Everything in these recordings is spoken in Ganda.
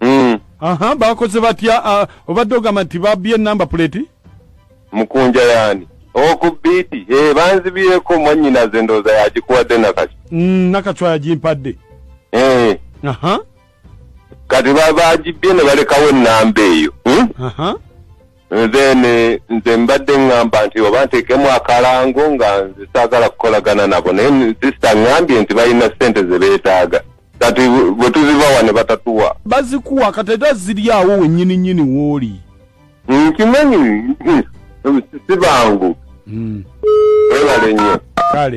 Mm. aha bakoze batya ah, obadde ogamba nti babbye enamba puleti mukunja yani oku biiti hey, banzibyeko mwanyinaze ndooza yagikuwadde nakati Mm, nakacwa yagimpadde hey. aha kati ba- bagibbye ne balekawo enamba eyo hmm? aha nze nze mbadde ŋŋamba nti oba nteekemu akalango nga nze saagala kukolagana nabo naye sisita ŋŋambye nti balina ssente ze beetaaga kati bwe tuzibawa ne batatuwa bazikuwa kati era ziri awo wennyini nnyini wooli nkimanyi si bangu hmm. webale nnyo kale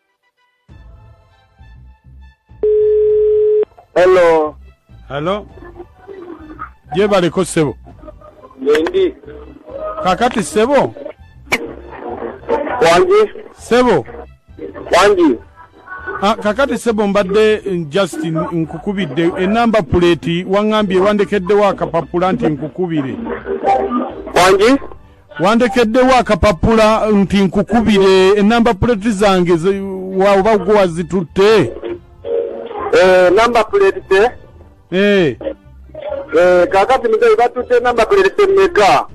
Hello. Hello. Je baliko sebo. Yendi. Kakati sebo. Wangi. Sebo. Wangi. Ah, kakati sebo mbadde mm, just nkukubidde enamba puleti waŋŋambye wandekeddewo akapapula nti nkukubire wangi wandekeddewo akapapula nti nkukubire enamba puleti zange oba gwe wazitutte eh, namba puleti te eh. Eh, kakati muzeyi batutte namba puleti temeka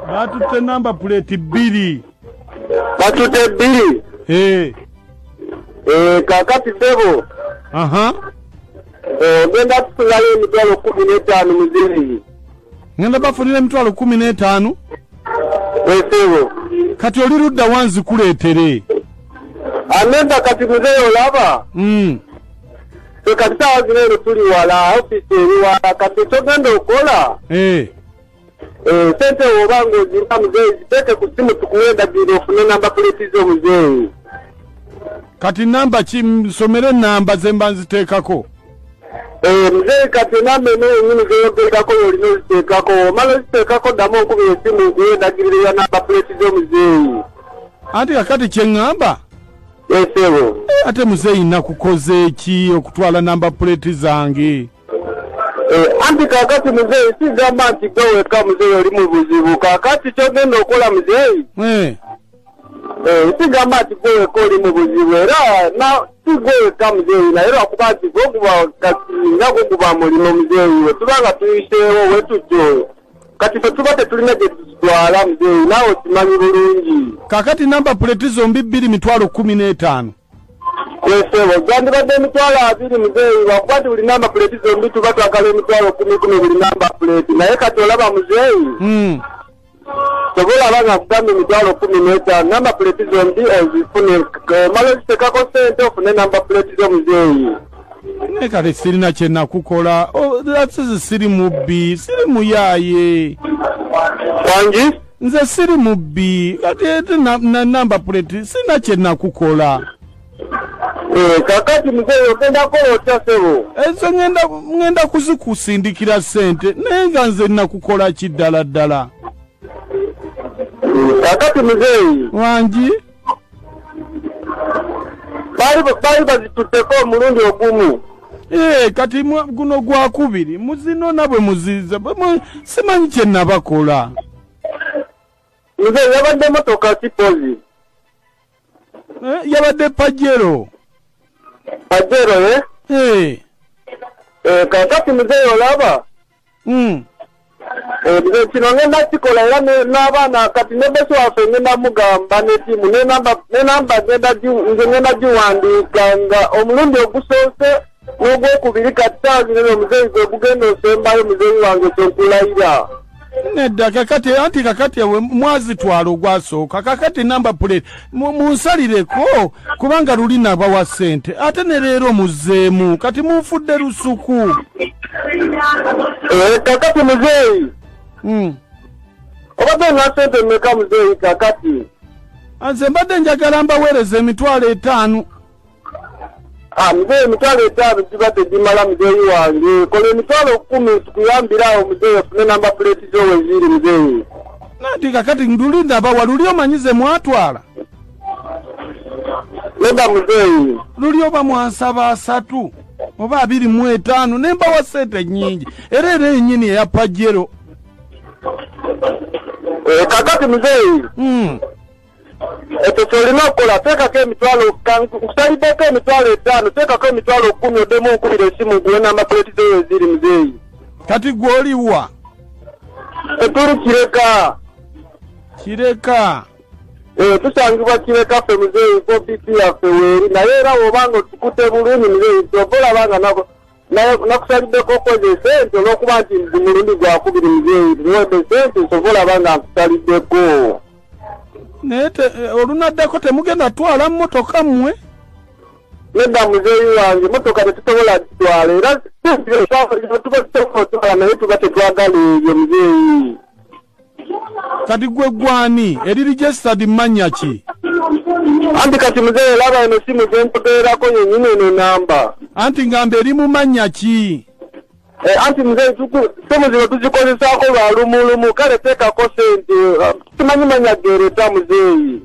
batutte namba puleti bbiri batutte bbiri kakati sebo ogenda kusulayo emitwalo kumi n'etaano muzeyi ngenda bafunira emitwalo kumi n'etaano esebo kati oli ludda wanzikuleetere anenda kati muzeeyi olaba mm. fe kati saawa zino eno tuli wala ofisi eri wala kati kyogenda okola eh. eh, sente woba nga ozirina muzeeyi ziteeke ku simu tukuwa endagiriro ofune namba puleti zo muzeeyi kati namba ki nsomere namba zemba nziteekako Eh, mzee kati enamba eno yenyini zeyogerekako yolina oziteekako omala oziteekako ddamu okuba esimu nkuwe endagiriro ya namba puleti z'omuzeeyi anti kakati kyeŋŋamba esebo eh, ate muzeeyi nakukoze eki okutwala namba puleti zange eh, anti kakati muzeeyi sigamba nti gwe weka muzeeyi oli mu buzibu kakati kyogenda okola muzeeyi sigamba nti gwe weka oli mu buzibu era si gwe weka muzeeyi naye lwakuba nti gwe guba kati nga gwe guba mulimu muzeeyi we tuba nga tuyiseewo wetutyo kati fe tuba tetulina gye tutwala muzeeyi naawe okimanyi bulungi kakati namba puleti zombi bbiri mitwalo kkumi n'etaano Kwesebo gyandibadde emitwalo abiri muzeeyi lwakuba nti buli namba puleeti zombi tuba twagala emitwalo kumi kumi buli namba puleeti naye kati olaba muzeeyi hmm. sobola aba nga kugamba emitwalo kumi n'etaano namba puleeti zombi ozifune omala ozitekako sente ofune namba puleeti zo muzeeyi naye kati sirina kyenakukola oh, siri mubbi siri muyaaye wangi nze siri mubbi kati ete na- na namba puleti sina kye nakukola Eh, kakati mzee ogenda kola otya sebo ezo ngenda ngenda kuzikusindikira ssente naye nga nze nakukola ki ddala ddala kakati mzee wangi baali bazitutteko omulundi ogumu ee kati guno gwakubiri muzinona bwe muziza simanyi kye nabakola nze yabadde motoka kipozi eh, yabadde pajero pajero e eh? ee eh, kakati muzeeyo olaba Hmm. Eh, nze kino ngenda kikola era n'abaana kati ne besi waffe ngenda mugamba netiimu nenamba nze ngenda giwandiika nga omulundi ogusoose n'ogwokubiri kati taazi nene omuzeeyi gwe gugenda osembayo muzeeyi wange kyenkulayira nedda kakati anti kakati ewe mwazitwala ogwasooka kakati namba puleti munsalireko kubanga luli nabawa sente ate ne leero muzeemu kati munfudde lusuku eh, kakati muzeeyi hmm. obadde nga sente meka muzeeyi kakati nze mbadde njagala mbaweereza emitwalo etaano Ah, mzee emitwalo etaano giba tegimala muzeeyi wange kola emitwalo kumi tukuyambire awo muzeeyi ofune namba puleeti zo weziri muzeeyi nati kakati nduli ndaba waluli omanyi ze mwatwala neda muzeeyi luli oba mwansaba asatu oba abiri mu etaano ne mbawa sente nnyingi era era enyini eya pajero eh, kakati muzeeyi mm. ekyo kyolina okukola teekako emitwalo nkusaliddeko emitwalo etaano teekako emitwalo kumi oddemu nkubira esimu guwe namba puleti zeyo eziri muzeeyi kati gwe oliwa etuli kireka kireka eh, tusangibwa kireka ffe muzeeyi ko bp yaffe weeri naye era wobanga otukute bulungi muzeeyi kyova olabanga nako naye nakusaliddeko okweza esente olwokuba nti ndi mulundi gwakubiri muzeeyi tuwedde esente nsobola aba nga nkusaliddeko naye eh, olunaddako temugenda twala mmotoka mmwe nedda muzeeyi wange mmotoka tetusobola kitwala era tuba tusobola otwala naye tuba tetwagala ebyo muzeeyi kati gwe gwani eri registered manya ki anti kati muzee laba eno simu zenkuteerako yenyini eno enamba anti ngamba eri mu manya ki eh, anti muzee simu zino tuzikozesaako lwa lumulumu kale teekako sente eh, simanyi manya geereta muzeeyi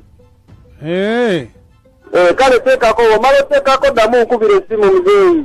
eh. kale teekako omala oteekako ddamu nkubira esimu muzeeyi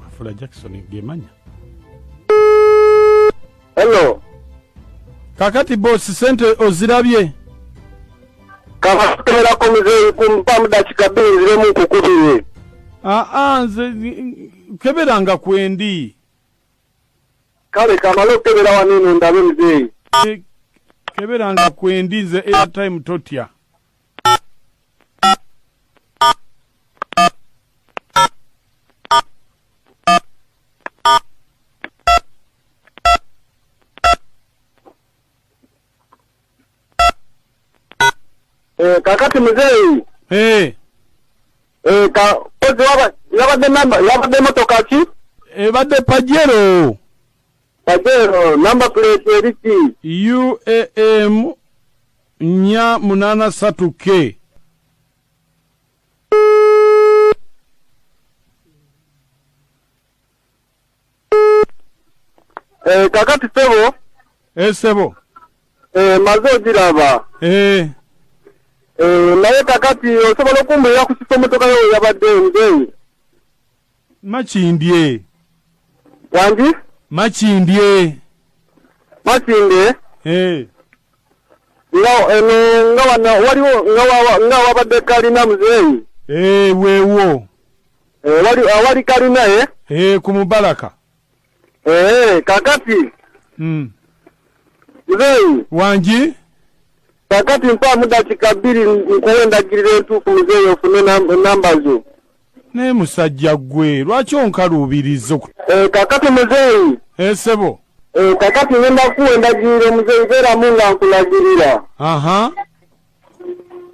mafula jackson gemanya hello kakati bosi sente ozirabye kabakutemerako muzeeyi kumpamu dakika bbiri nziremu nkukubire aa nze keberanga kwendi kale kamale okukebera wano eno ndabe muzeeyi keberanga kwendi nze airtime totya Eh, kakati muzeeyi Eh, eh, ka kozi waba- yabadde namba yabadde motoka ki ebadde pajero Kajero number plate eriki? UAM nya munana satu ke. Eh, kakati sebo. Eh, sebo. Eh, maze ogiraba. Eh. Eh, naye kakati osobola okumbulira ku kifo motoka yo yabadde nzeyi. Makindye. Wangi? Makindye. Makindye? Eh. Nga eno eh, nga wana waliwo nga wawa nga wabadde kalina muzeeyi. Eh, weewo. Eh, wali awali ah, kalina eh? Eh, ku Mubaraka. Eee, eh, kakati. Mm. Mzeyi. Wanji. Kakati mpa muda chikabiri nkuwenda gire tu kumzeyi ofune namba zo. Ne musajja gwe, lwachi onkaru ubirizo. Eee, eh, kakati mzeyi. Eee, eh, sebo. Eee, kakati wenda kuwenda gire mzeyi vera munga nkulagirira. Aha. Uh -huh.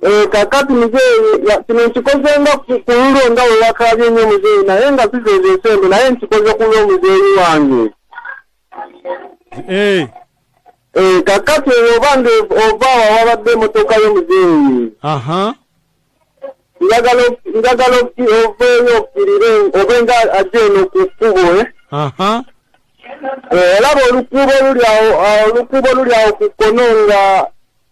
Eh, kakati muzeeyi kino nkikoze nga kululo nga wewakaabye nnyo muzeeyi naye nga sizeeza esente naye nkikoze kulwa omuzeeyi wange eh. Eh, kakati eyo oba nga ova wawabadde emotoka yo muzeeyi njagala oveeyo okirire obe nga ajja eno ku kkubo olaba olukuubo oluli awo olukuubo oluli awo ku kkono nga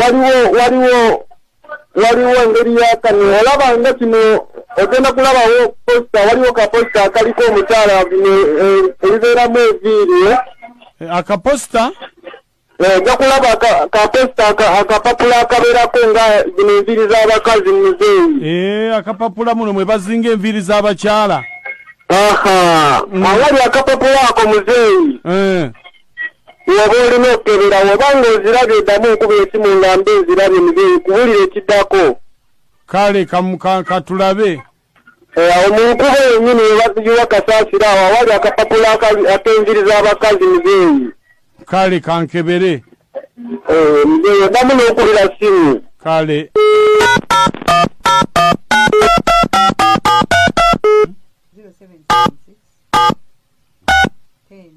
waliwo waliwo waliwo engeri yakano olaba nga kino ogenda kulabawo posita waliwo kaposita akaliko omukyala ebibeeramu eh, eviiri eh? eh, akaposita ojja kulaba kaposita akapapula akabeerako nga zino enviiri z'abakazi muzeeyi akapapula muno mwe bazinga enviiri z'abakyala aha mm. awali akapapula ako muzeeyi woba olina okukebera woba nga ozirabye oddamu okuba esimu nga mba ezirabye muzeeyi kubulira ekiddako kale katulabe eh, awo mu nkuba yenyini webazigiwa kasaasira awo awali akapapula akenjiri z'abakazi muzeeyi kale kankebere eh, muzeeyi oddamu n'okubira simu kale Zero seven seven six ten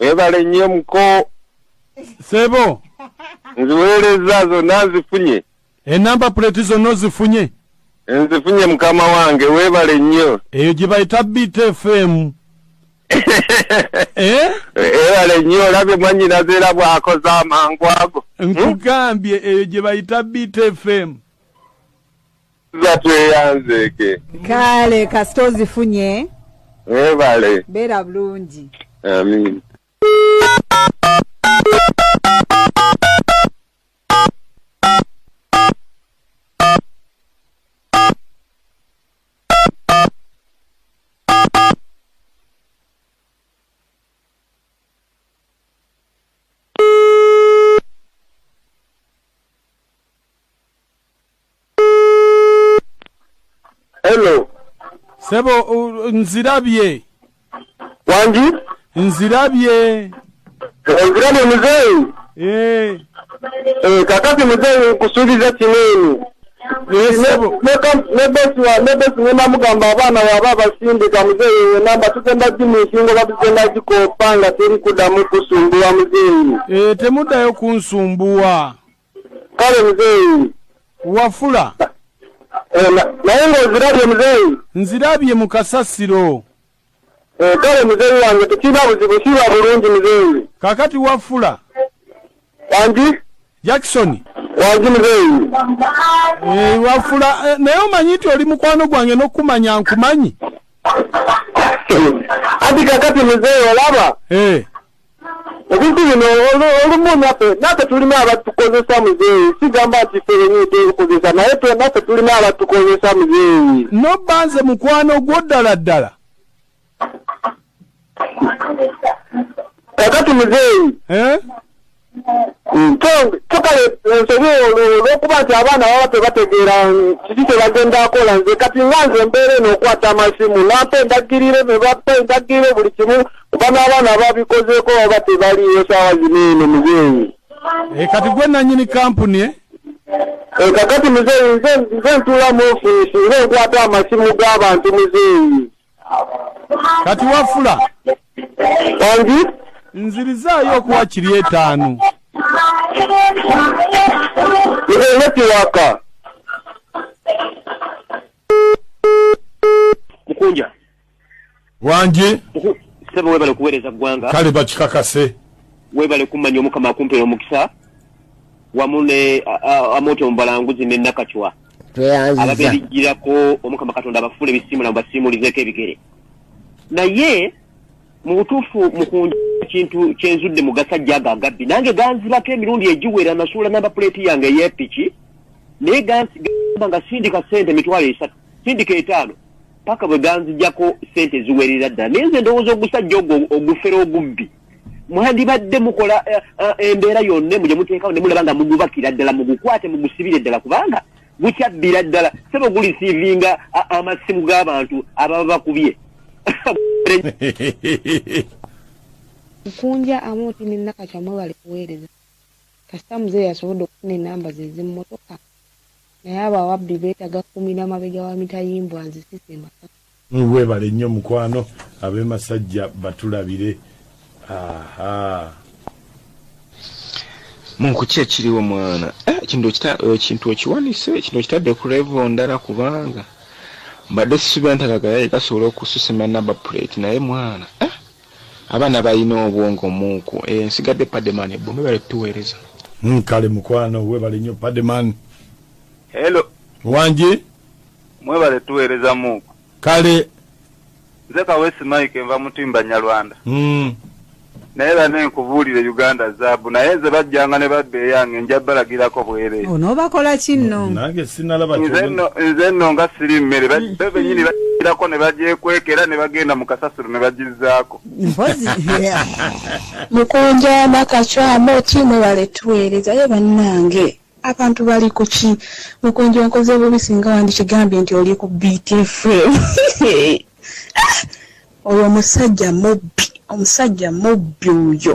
webale nnyo muko sebo nziweereza zonna nzifunye enamba puleti zonna ozifunye nzifunye mukama wange webale nnyo eyo gye bayita btfm Eh? ebale eh, nnyo olabye mwanyinaze era bwakoze amangu ago hmm? nkugambye eyo gye bayita btfm za tweyanzeeke kale kasita ozifunye ebale eh, beera bulungi amin Hello. Sebo nzirabye. wangi nzirabye nzirabye muzeeyi eh. eh, kakati muzeeyi nkusuubiza kineeni nebesinemamugamba abaana waba abasindika muzeeyi enamba tugenda gimuisingo batugenda gikopa nga teri kudamu kusumbuwa muzeeyi eh, temuddayo kunsumbuwa kale muzeeyi wafula eh, naye ngaozirabye muzeeyi nzirabye mu kasasiro eh, kale muzeeyi wange tekirina buzibu kiba bulungi muzeeyi kakati wafula wangi jackson wangi muzeeyi eh, wafula naye omanyi nti oli mukwano gwange nokumanya nkumanyi anti kakati muzeeyi olaba ebintu bino olumu naffe naffe tulina abatukozesa muzeeyi sigamba nti ffe benyini tebikozesa naye naffe tulina abatukozesa muzeeyi nobba nze mukwano gwo ddala ddala kakati muzeeyi eh? tukale ensobi olwokuba nti abaana baba tebategeera kiki kyebagenda akola nze kati nga nze mbeera eno okwata amasimu nampa endagirire nebapa endagirire buli kimu kuba n'abaana ababikozeeko baba tebaliiwo saawa zino eno muzeeyi eh, kati gwe nanyini kampuni e eh, kakati muzeeyi nze nze ntuula mu ofiisi nze nkwata amasimu g'abantu muzeeyi kati wafula angi nzirizaayo okuwa kiri etaano ene kiwaka mukunja wangi sebo webale kuwereza gwanga kale bakikakase webale kumanya omukama akumpera omukisa wamu ne amoto omubalanguzi ne nakacwa ababerijirako omukama katonda abafule ebisimu na basiimulizeko ebigere naye mu butuufu mukunja ekintu kyenzudde mu gasajja ago agabbi nange ganzibako emirundi egiwera nasuula namba puleeti yange eyepiki naye gamba nga sindika sente emitwalo esatu sindika etaano paka bwe ganzijako sente eziwerera ddala naye nze ndowooza ogusajja ogwo ogufera ogubbi mwandibadde mukola eh, eh, embeera yonna emu gye muteekawo ne mulaba nga mugubakira ddala mugukwate mugusibire ddala kubanga gukyabbira ddala sebo gulisiivinga amasimu g'abantu ababa bakubye nkunja amuti ne nakacamwe bali kuweereza kasita muzeeyi asobodde okufuna enamba ze z'emmotoka Naye abo ababbi betaga kumira mabega wa mitayimbwa nze sise masaka. Webale nnyo mukwano abe masajja batulabire ahaa. Munku ki ekiriwo mwana eh, ekintu okiwanise ekintu okitadde ku levo ndala kubanga mbadde sisubira nti akagayaye kasobola okususima naba plate naye mwana eh. Abaana balina obwongo muuku. Eyo nsigadde Pademan ebbo. Mwebale kutuweereza. Mm, kale mukwano webale nnyo Pademan. Hello. Wangi. Mwebale tuweereza muuku. Kale. Nze Kawesi Mike nva Mutimba Nyarwanda. Mm. naye bane nkubuulire uganda zaabu naye nze bajjanga ne badda eyange nja balagirako bwereere onoobakola kinno nange sinalaba nze nno nga siri mmere bebenyini bagirako ne bagyekweka era ne bagenda mu kasasi ebibuuzo ne bagizzaako mpozi mukunja nakacwamu oti mwebale tuweereza ye bannange abantu bali ku ki mukunja onkoze bubi singa wandikigambye nti oli ku btfm oyo omusajja mubbi omusajja mubbi oyo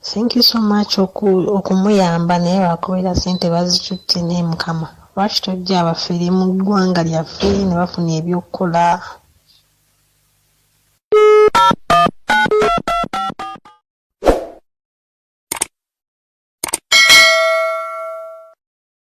Thank you so much okumuyamba naye lwakubeera sente bazicutte naye mukama lwaki tojja abafere mu ggwanga lyaffe ne bafuna ebyokukola